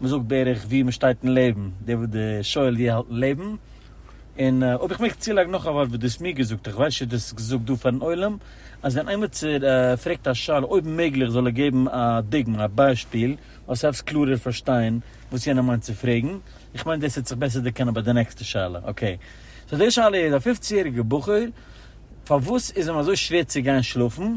מען זאגט בערך ווי מען שטייט אין לעבן, דער וואס די שואל ווי ער האלט אין לעבן, און אויב איך מעג צולייגן נאך א ווארט וואס דו האסט מיר געזאגט, איך ווייס נישט צו דו האסט עס געזאגט דא פארן עולם, אז ווען איימיצער פרעגט א שאלה אויב מעגליך זאל ער געבן א דוגמא, א ביישפיל, אז עס העלפט קלארער פארשטיין וואס יענער מיינט צו פרעגן, איך מיין דאס העט זיך בעסער דערקענען ביי די נעקסטע שאלה, אקעי. סאו די שאלה איז, א פופצן יעריגער בחור, פארוואס איז אים אזוי שווער צו גיין שלאפן?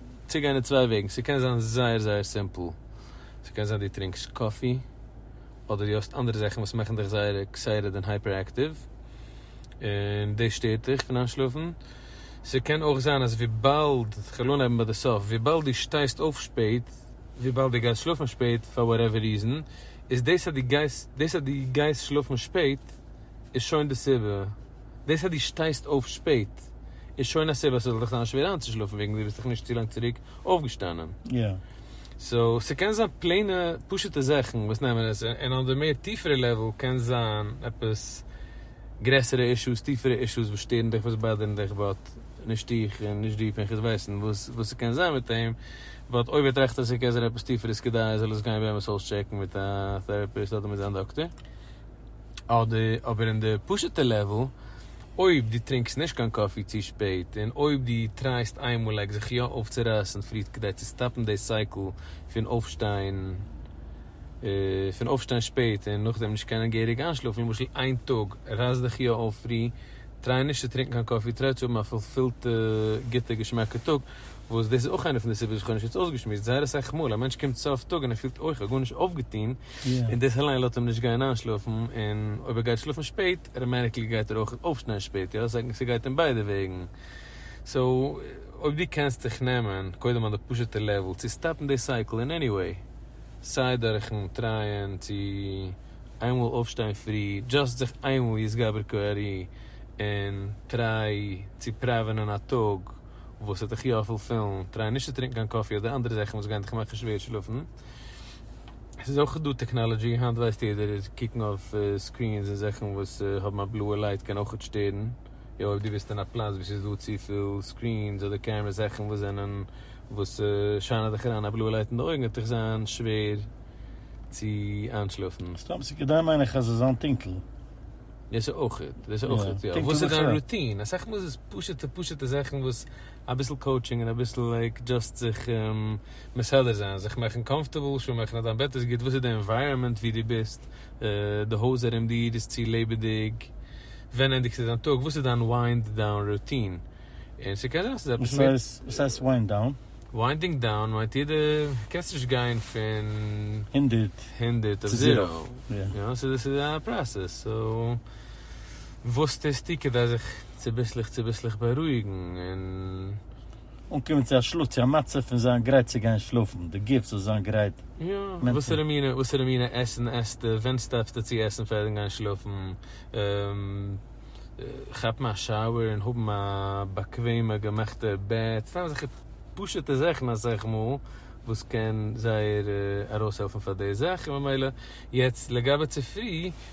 צוגיין אין צוויי וועגן, ס'קען זיין זייער זייער סימפל, ס'קען זיין דו טרינקסט קאפי, אדער דו האסט אנדערע זאכן וואס מאכן דיך זייער עקסייטעד און הייפער עקטיוו, און דאס שטערט דיך פון איינשלאפן, ס'קען אויך זיין אז וויבאלד, כ'וועל אנהייבן ביי די סוף, וויבאלד דו שטייסט אויף שפעט, וויבאלד דו גייסט שלאפן שפעט פאר וואטעווער ריזען, איז דאס אז דו גייסט, דאס אז דו גייסט שלאפן שפעט איז שוין די סיבה. דאס אז דו שטייסט אויף שפעט איז שוין א סיבה ס'זאל דיך זיין שווער איינצושלאפן וועגן דו ביסט דאך נישט צו לאנג צוריק אויפגעשטאנען. סאו ס'קען זיין פלעינע פשוט'ע זאכן וואס נעמען עס און אויף די מער טיפערע לעוועל קען זיין עפעס גרעסערע אישוס טיפערע אישוס וואס שטערן דיך וואס באדערן דיך באט נישט איך און נישט דו פנחס ווייסן וואס וואס ס'קען זיין מיט אים באט אויב ער טראכט אז ס'קען זיין עפעס טיפער איז כדאי ער זאל עס גיין באמת אויסטשעקן מיט א טעראפיסט אדער מיט זיין דאקטער. אדער אבער אין די פשוטע לעוועל, אויב דו טרינקסט נישט קיין קאפי צו שפעט, און אויב דו טרייסט איינמאליג זיך יא אויפצורייסן פרי כדי צו סטאפן די סייקל פון אויפשטיין פון אויפשטיין שפעט און נאכדעם נישט קענען געהעריג איינשלאפן, למשל איין טאג רייס דיך יא אויף פרי, טריי נישט צו טרינקן קיין קאפי, טריי צו האבן א פולפילטע גוטע געשמאקע טאג, וואס דאס איז אויך איינע פון די סיבות וואס איך האב נישט יעצט אויסגעשמועסט, זייער אסאך מאל א מענטש קומט סוף טאג און ער פילט אויך א גארנישט אויפגעטון, און דאס אליין לאזט אים נישט גיין איינשלאפן, און אויב ער גייט שלאפן שפעט, אוטאמעטיקלי גייט ער אויך אויפשטיין שפעט, יא? ס'גייט אין ביידע וועגן. סאו, אויב דו קענסט זיך נעמען, קודם אויף די פשוט'ע לעוועל, צו סטאפן די סייקל אין עני וועי, סיי דורכ'ן טרייען צו איינמאל אויפשטיין פרי, דזשאסט זיך איינמאל יתגבר כארי, און טריי צו פראווענען א טאג וואס וועט דיך יא פולפילן, טריי נישט צו טרינקן קיין קאפי אדער אנדערע זאכן וואס גייען דיך מאכן שווער שלאפן. ס'איז אויך דא טעקנאלעדזשי, היינט ווייסט יעדער אז קוקן אויף סקרינס און זאכן וואס האבן א בלויע לייט קען אויך שטערן, יא אויב דו ביסט אין א פלאץ וואו ס'איז דא צופיל סקרינס אדער קעמרעס זאכן וואס זענען וואס שיינען דיך אריין א בלויע לייט אין די אויגן וועט דיך זיין שווער צו איינשלאפן. סתם צו כדי מיין איך אז עס זיין טונקל. דאס אויך, דאס אויך, יא. וואס איז דיין רוטין? אסאך מאל איז עס פשוטע פשוטע זאכן וואס אביסל קאוטשינג און אביסל לייק דזשאסט זיך מסדר זיין, זיך מאכן קאמפטערבל, שור מאכן אז דיין בעט איז גוט, וואס איז די ענווייראמענט ווי דו ביסט, די הויז ארום דיר איז צו לעבעדיג, ווען ענדיגסטו דיין טאג, וואס איז דיין וויינד דאון רוטין, און ס'קען זיין אז ס'איז עפעס מער. וואס הייסט וויינד דאון? וויינדינג דאון מיינט איר די קענסט נישט גיין פון. הונדערט. הונדערט אויף זיראו. יא. ס'איז א פראסעס, סאו וואס טוסטו כדי זיך. צוביסלעך צוביסלעך בארואיגן און. אנקומען צו א שלאף צו א מצב פון זיין גרייט צו גיין שלאפן, די גוף זאל זיין גרייט מענטעל. וואסערע מינע וואסערע מינע עסן עסטו, ווען סטאפסטו צו עסן פארן גיין שלאפן, כאפן א שאוער און האבן א באקוועמע געמאכטע בעט, סתם אזעלכע פשוטע זאכן אסאך מאל וואס קען זייער ארויסהעלפן פאר די זאך, און ממילא יעצט לגבי צופרי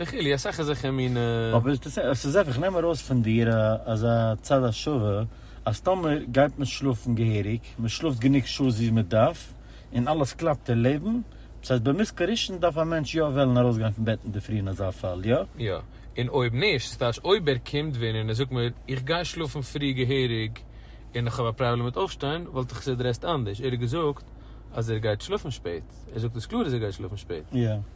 וכו' אסאך אזעלכע מינע. אבער עס איז זיכער, איך נעם ארויס פון דיר אזא צד השווה, אז טאמער גייט מען שלאפן געהעריג, מען שלאפט גענוג שעות ווי מען דארף, און אלעס קלאפט אין לעבן, דאס הייסט במזג הראשון דארף א מענטש יא וועלן ארויסגיין פון בעט אינדערפרי אין אזא פאל, יא? יא. און אויב נישט, ס'טייטש אויב ער קומט ווען און ער זאגט מיר, איך גיי שלאפן פרי געהעריג און איך האב א פראבלעם מיט אויפשטיין, וואלט איך עס עדרעסד אנדערש. ער האט געזאגט אז ער גייט שלאפן שפעט. ער זאגט עס קלאר אז ער גייט שלאפן שפעט. יא.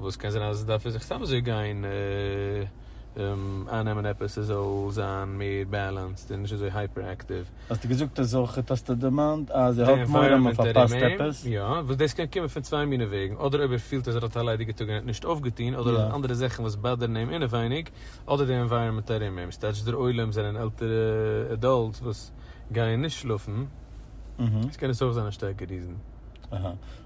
וואס קען זיין אז דארף ער זיך סתם אזוי גיין אייננעמען עפעס עס זאל זיין מער בעלענסד און נישט אזוי הייפער עקטיוו. האסטו געזאגט עס אויך האסטו דערמאנט אז ער האט מורא מ'פארפאסט עפעס? יא, וואס דאס קען קומען פון צוויי מיני וועגן, אדער אויב ער פילט אז ער האט א ליידיגע טאג און ער האט נישט אויפגעטון, אדער ער האט אנדערע זאכן וואס באדערן אים אינעווייניג, אדער די ענווייראמענט ארום אים, ס'טייטש דער עולם זענען עלטערע עדאלטס וואס גייען נישט שלאפן, עס קען עס אויך זיין א שטארקע ריזען. אהא.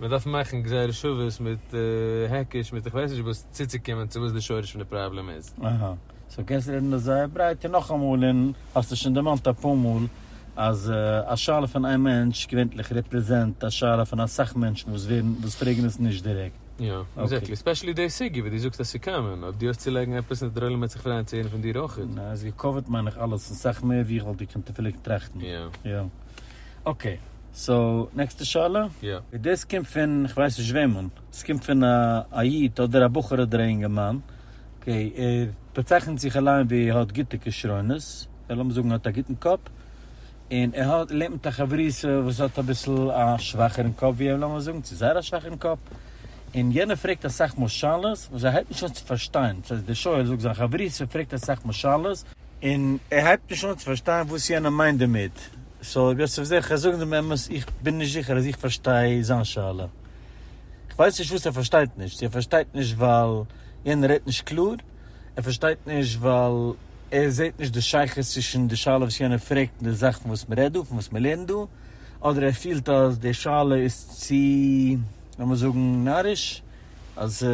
מען דארף מאכן גזירת שוות מיט העקיש מיט איך ווייס נישט וואס צוצוקומען צו וואס די שורש פון די פראבלעם איז. אהא. סאו קענסט רעדן דאס זייער ברייט און נאכאמאל און האסט עס שוין דערמאנט אפאר מאל אז א שאלה פון איין מענטש געווענטליך רעפרעזענט א שאלה פון אסאך מענטשן וואס ווערן וואס פרעגן עס נישט דירעקט. יא. עקזעקטלי. ספעשעלי די סוגיא וואס דו זאגסט אז ס'קאמאן. אויב דו האסט צו לייגן עפעס און דער עולם וועט זיך פרייען צו הערן פון דיר אויכעט. נע, עס געקאווערט מיין איך אלעס און סאך מער ווי איך וואלט געקענט אפילו געטראכטן. יא. יא. אקעי. סאו נעקסטע שאלה. יא. דאס קומט פון כ'ווייס נישט וועמען, עס קומט פון א א איד אדער א בחור אדער א אינגערמאן, אקעי, ער באצייכנט זיך אליין ווי ער האט גוטע כשרונות, אדער לאמיר זאגן ער האט א גוטן קאפ, און ער האט לעבט מיט א חברותא וואס האט אביסל א שוואכערן קאפ ווי אים, לאמיר זאגן צו זייער א שוואכערן קאפ, און יענער פרעגט אסאך מאל שאלות וואס ער הייבט נישט אן צו פארשטיין, דאס הייסט דער שואל זאגט זיין חברותא פרעגט אסאך מאל שאלות, און ער הייבט נישט אן צו פארשטיין וואס יענער מיינט דערמיט, סאו איך וועל זיכער זאגן דעם אמת, איך בין נישט זיכער אז איך פארשטיי זיין שאלה. איך ווייס נישט וואס ער פארשטייט נישט, צו ער פארשטייט נישט ווייל יענער רעדט נישט קלאר, ער פארשטייט נישט ווייל ער זעט נישט די שייכות צווישן די שאלה וואס יענער פרעגט און די זאך פון וואס מען רעדט דא, פון וואס מען לערנט דא, אדער ער פילט אז די שאלה איז צו, לאמיר זאגן, נאריש, אז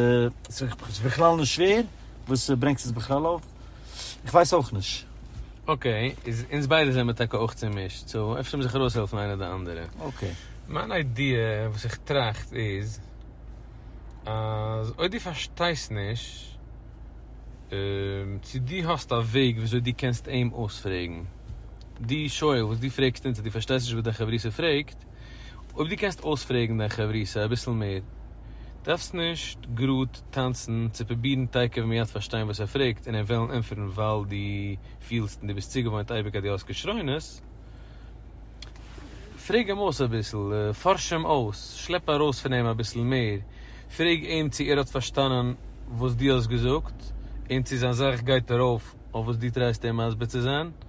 ס'איז בכלל נישט שווער, וואס ברענגסט עס בכלל אויף? איך ווייס אויך נישט. אקעי, איז אונז ביידע זעמער טאקע אויך צומישט, סאו אפשר מוז איך ארויסהעלפן איינער די אנדערע. אקעי. מיין איידיע וואס איך טראכט איז, אז אויב דו פארשטייסט נישט צו דו האסט א וועג ווי אזוי דו קענסט אים אויספרעגן, דו שואל וואס דו פרעגסט אונז אז דו פארשטייסט נישט וואס דיין חברותא פרעגט, אויב דו קענסט אויספרעגן דיין חברותא אביסל מער, דארפסט נישט גראד טאנצן צו פרובירן תיכף מיד פארשטיין וואס ער פרעגט און אים וועלן ענטפערן ווייל דו פילסט און דו ביסט צוגעוואוינט אייביג אז דו האסט כשרונות. פרעג אים אויס אביסל, פארש אים אויס, שלעפ ארויס פון אים אביסל מער, פרעג אים צו ער האט פארשטאנען וואס דו האסט געזאגט און צו זיין זאך גייט ארויף אויף וואס דו טרייסט אים מסביר צו זיין.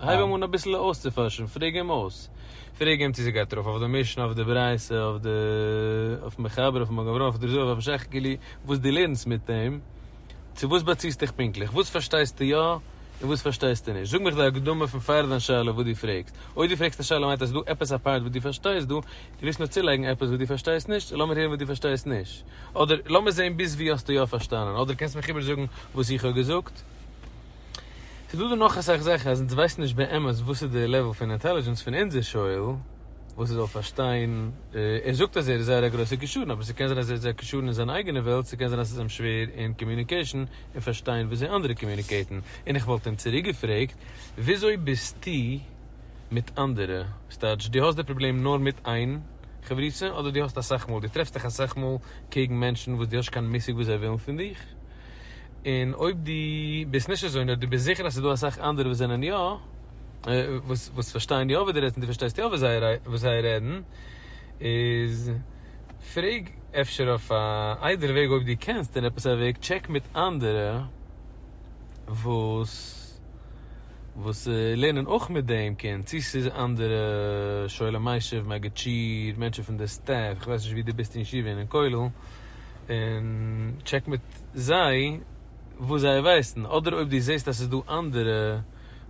הייב אים אן אביסל אויסצופארשן, פרעג אים אויס, פרעג אים צו ס'גייט ארויף אויף די משנה, אויף די ברייתא, אויף די, אויפן מחבר, אויפן מגן אברהם, אויף די זוהר, אויפן שכ ג, וואס דו לערנסט מיט אים, צו וואס באציסט דיך פונקטליך, וואס פארשטייסטו יא, און וואס פארשטייסטו נישט, זאג מיך די הקדמה פון פאר דיין שאלה וואס דו פרעגסט, אויב דו פרעגסט א שאלה מיינט אז ס'איז דא עפעס א פארט וואס דו פארשטייסט דא, דו ווילסט נאר צולייגן עפעס וואס דו פארשטייסט נישט, סאו לאמיר הערן וואס דו פארשטייסט נישט, אדער לאמיר זען ביז וואו האסטו יא פארשטאנען, אדער קענסט מיך איבערזאגן וואס איך האב געזאגט. ס'איז דא דא נאך אסאך זאכן אז אונז ווייסן נישט באמת וואס איז די לעוועל פון אינטעלידזשענס פון אונזער שואל וואס ער זאל פארשטיין, ער זאגט אז ער איז זייער א גרויסער כשרון אבער ס'קען זיין אז ער איז א כשרון אין זיין אייגענע וועלט, ס'קען זיין אז ס'איז אים שווער אין קאמיוניקעישן און פארשטיין וויאזוי אנדערע קאמיוניקעיטן, און איך וואלט אים צוריק געפרעגט וויאזוי ביסטו מיט אנדערע? ס'טייטש דו האסט די פראבלעם נאר מיט איין חברותא אדער דו האסט אסאך מאל, דו טרעפסט דיך אסאך מאל קעגן מענטשן וואס דו האסט נישט קיין מושג וואס זיי ווילן פון דיך? און אויב דו ביסט נישט אזוי נאר דו ביסט זיכער אז ס'איז דא אסאך אנדערע וואס זענען יא, וואס פארשטייען יא וואס דו רעדסט און דו פארשטייסט יא וואס זיי רעדן, איז פרעג אפשר אויף א איידעלע וועג אויב דו קענסט און עפעס א וועג טשעק מיט אנדערע וואס וואס לערנען אויך מיט דעם קינד, צי ס'איז אנדערע שואלי מיישב, מגיד שיעור, מענטשן פון די סטעף, כ'ווייס נישט ווי דו ביסט אין ישיבה און אין כולל, און טשעק מיט. זיי וואס זיי ווייסן, אדער אויב דו זעסט אז ס'איז דא אנדערע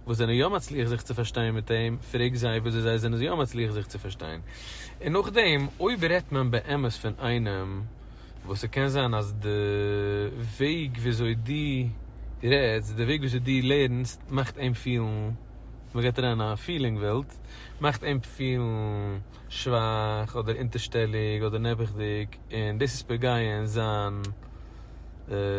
וואס זענען יא מצליח זיך צו פארשטיין מיט אים, פרעג זיי וויאזוי זיי זענען יא מצליח זיך צו פארשטיין. און נאכדעם אויב רעדט מען באמת פון איינעם וואס ס'קען זיין אז די וועג וויאזוי דו רעדסט, די וועג וויאזוי דו לערנסט מאכט אים פילן, מ'גייט אריין אין א פילינג וועלט, מאכט אים פילן, שוואך אדער אונטערשטעליג אדער נעבעכדיג און דאס איז פוגעין זיין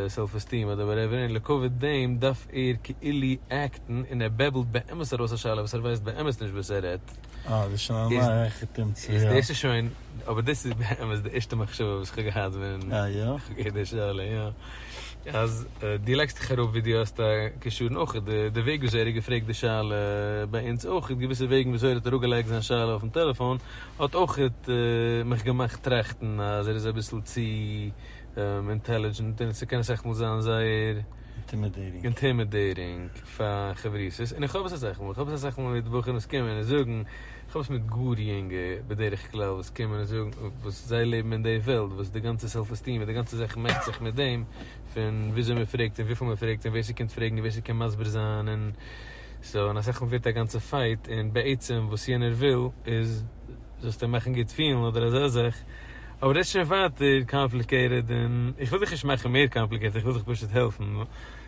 סעלף עסטיעם אדער וואטעווער און לעקאוויט דעם דארף ער כאילו עקטן און ער בעבלט באמת ארויס א שאלה וואס ער ווייסט באמת נישט וואס ער רעדט אה דאס שוין א נייע עקטום צו יא. דאס איז שוין אבער דאס איז באמת די ערשטע מחשבה וואס כ'האב געהאט ווען כ'האב געהערט די שאלה יא. אז דו לייגסט דיך אראפ ווי דו האסט א קשר און אויך די וועג ווי אזוי ער האט געפרעגט די שאלה ביי אונז אויך און געוויסע וועגן ווי אזוי ער האט אראפ געלייגט זיין שאלה אויפן טעלעפאן האט אויך מיך געמאכט טראכטן אז ער איז אביסל צו אינטעלידזשענט און ס'קען אסאך מאל זיין זייער אינטימידעיטינג פאר חברותות און איך האב עס אסאך מאל, איך האב עס אסאך מאל מיט בחורים וואס קומען און זאגן. כ'האב עס מיט גאר יונגע בדרך כלל וואס קומען און זאגן וואס זיי לעבן אין די וועלט וואס די גאנצע סעלף עסטיעם און די גאנצע זאך מעסט זיך מיט דעם פון וויאזוי מען פרעגט און וויפיל מען פרעגט און ווער ס'קומט פרעגן און ווער ס'קען מסביר זיין און סאו און אסאך מאל ווערט א גאנצע פייט און בעצם וואס יענער וויל איז זאלסט אים מאכן גוט פילן אדער אזא זאך אבער דאס איז שוין ווייטער קאמפליקעיטעד און איך וויל דיך נישט מאכן מער קאמפליקעיטעד איך וויל דיך פשוט העלפן.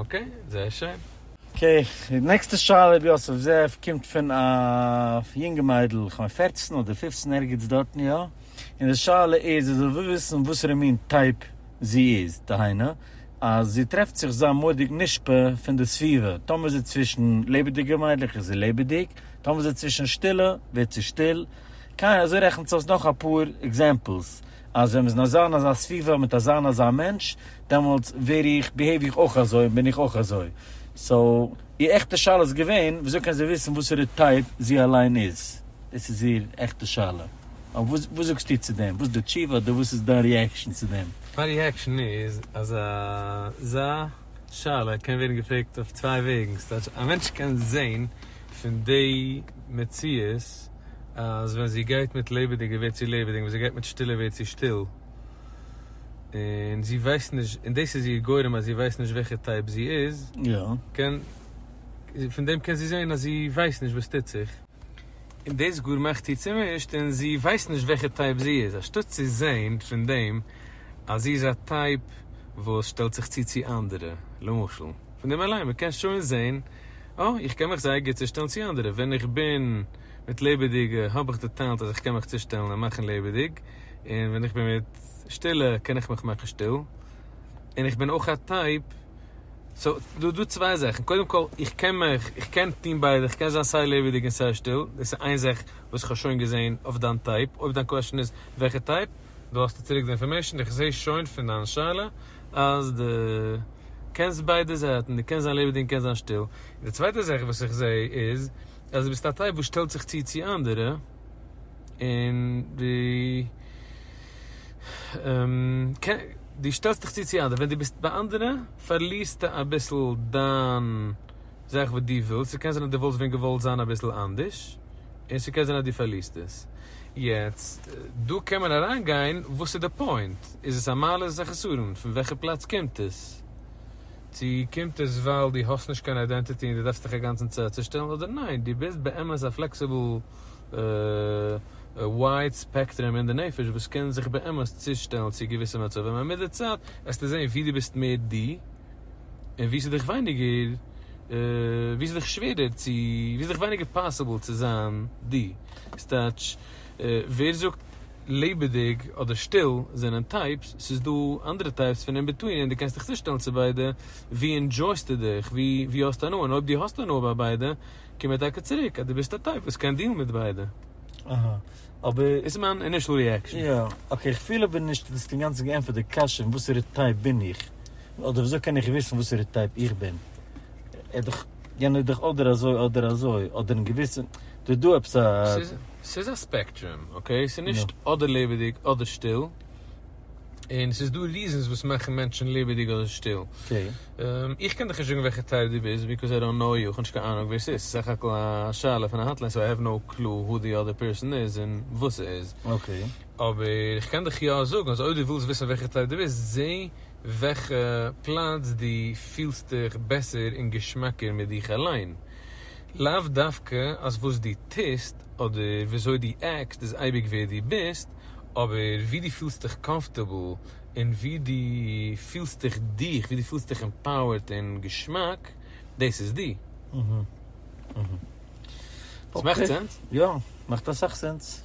אקעי, זייער שיין. אקעי, די נעקסטע שאלה רבי יוסף זאב קומט פון א יונגע מיידל, איך מיין פערצן אדער פופצן ערגעץ דארטן יא, און די שאלה איז זי וויל וויסן וואסערע מין טייפ זי איז, דהיינו אז זי טרעפט זיך זיין מורא'דיג נשפע פון די סביבה, טאמער איז זי צווישן לעבעדיגע מיידלעך איז זי לעבעדיג, טאמער איז זי צווישן שטילע ווערט זי שטיל, קיין אזוי רעכנט זיך אויס נאך אפאר עקזעמפלס. אז ווען מ'איז אין אזא און אזא סביבה מיט אזא און אזא מענטש, דעמאלטס ווער איך, ביהעיוו איך אויך אזוי און בין איך אויך אזוי. סאו, איר עכטע שאלה איז געווען, וויאזוי קען זי וויסן וואסערע טייפ זי אליין איז? דאס איז איר עכטע שאלה. אבער וואס וואס זאגסטו צו דעם? וואס איז די תשובה אדער וואס איז דיין ריעקשאן צו דעם? מיין ריעקשאן איז אז אזא שאלה קען ווערן געפרעגט אויף צוויי וועגן. ס'טייטש, א מענטש קען זעהן פון די מציאות. אז ווען זי גייט מיט לעבעדיגע ווערט זי לעבעדיג ווען זי גייט מיט שטילע ווערט זי שטיל און זי ווייסט נישט און דאס איז איר גורם אז זי ווייסט נישט וועלכע טייפ זי איז קען פון דעם קען זי זעהן אז זי ווייסט נישט וואס טוט זיך און דאס גאר מאכט איר צומישט און זי ווייסט נישט וועלכע טייפ זי איז אנשטאט צו זעהן פון דעם אז זי איז א טייפ וואס שטעלט זיך צו צו אנדערע למשל פון דעם אליין מען קען שוין זעהן אה, איך קען מיך זייער גוט צושטעלן צו אנדערע, ווען איך בין מיט לעבעדיגע האב איך די טעלענט אז איך קען מיך צושטעלן און מאכן לעבעדיג, און ווען איך בין מיט שטילע קען איך מיך מאכן שטיל, און איך בין אויך א טייפ, סאו דא דא צוויי זאכן, קודם כל איך קען מיך איך קען טון ביידע, איך קען זיין סיי לעבעדיג און סיי שטיל, דאס איז איין זאך וואס איך האב שוין געזען אויף דיין טייפ, אויב דיין קוועשאן איז וועלכע טייפ. דא האסטו צוריק די אינפארמעישן, איך זעה שוין פון דיין שאלה אז דו קענסט ביידע זייטן, דו קענסט זיין לעבעדיג און קענסט זיין שטיל, און די צווייטע זאך וואס איך זעה איז אז דו ביסט א טייפ וואס שטעלט זיך צו צו אנדערע, און דו שטעלסט דיך צו צו אנדערע, ווען דו ביסט ביי אנדערע פארלירסטו אביסל דיין. זאך וואס דו ווילסט, ס'קען זיין אז דו וואלסט ווען געוואלט זיין אביסל אנדערש, און ס'קען זיין אז דו פארלירסט עס. יעצט, דא קען מען אריינגיין, וואס איז די פוינט? איז עס א מעלה? איז עס א חסרון? פון וועלכע פלאץ קומט עס? צו קומט עס ווייל דו האסט נישט קיין איידענטיטי און דו דארפסט דיך אינגאנצן צעצושטעלן, אדער ניין, דו ביסט באמת א פלעקסיבל ווייד ספעקטרום אין די נפש וואס קען זיך באמת צושטעלן צו געוויסע מצבים, און מיט די צייט עסטו זען ווי דו ביסט מער דו. און ווי ס'איז דיך ווייניגער, ווי ס'איז דיך שווערער צו, ווי ס'איז דיך ווייניגער פאסיבל צו זיין דו. ס'טייטש, ווער זאגט לעבעדיג אדער שטיל זענען טייפס, ס'איז דא אנדערע טייפס פון אין ביטווין און דו קענסט דיך צושטעלן צו ביידע, ווי ענדשויסטו דיך, ווי האסטו הנאה, און אויב דו האסט הנאה ביי ביידע, קום מיר טאקע צוריק אז דו ביסט א טייפ וואס קען דילן מיט ביידע. אהא. אבער. דאס איז מיין אינישעל ריעקשאן. יא. אקעי, כ'פיל אבער נישט אז דו האסט אינגאנצן געענטפערט די קשיא, אין וואסערע טייפ בין איך. אדער וויאזוי קען איך וויסן וואסערע טייפ איך בין? ער איז דאך, יענער איז דאך אדער אזוי אדער אזוי, אדער אין געוויסע, ס'איז דא עפעס א. ס'איז א ספעקטרום, אקעי? ס'איז נישט אדער לעבעדיג אדער שטיל, און ס'איז דא ריזענס וואס מאכן מענטשן לעבעדיג אדער שטיל. איך קען דיך נישט זאגן וועלכע טייפ דו ביסט, ביקאוז איי דאנט קנאו יו, כ'האב נישט קיין אהנונג ווער ס'איז, ס'איז סך הכל א שאלה פון א האטליין, סאו איי העוו נאו קלו הו די אדער פערסאן איז און וואס ער איז. אבער איך קען דיך יא זאגן אז אויב דו ווילסט וויסן וועלכע טייפ דו ביסט, זע וועלכע פלאץ דו פילסט דיך בעסער און געשמאקער מיט דיך אליין. לאו דווקא אז וואס דו טוסט אדער וויאזוי דו עקסט איז אייביג ווער דו ביסט, אבער ווי דו פילסט דיך קאמפארטעבל און ווי דו פילסט דיך דיך, ווי דו פילסט דיך עמפאוערד און געשמאק, דאס איז דו. עס מאכט סענס? יא, מאכט אסאך סענס.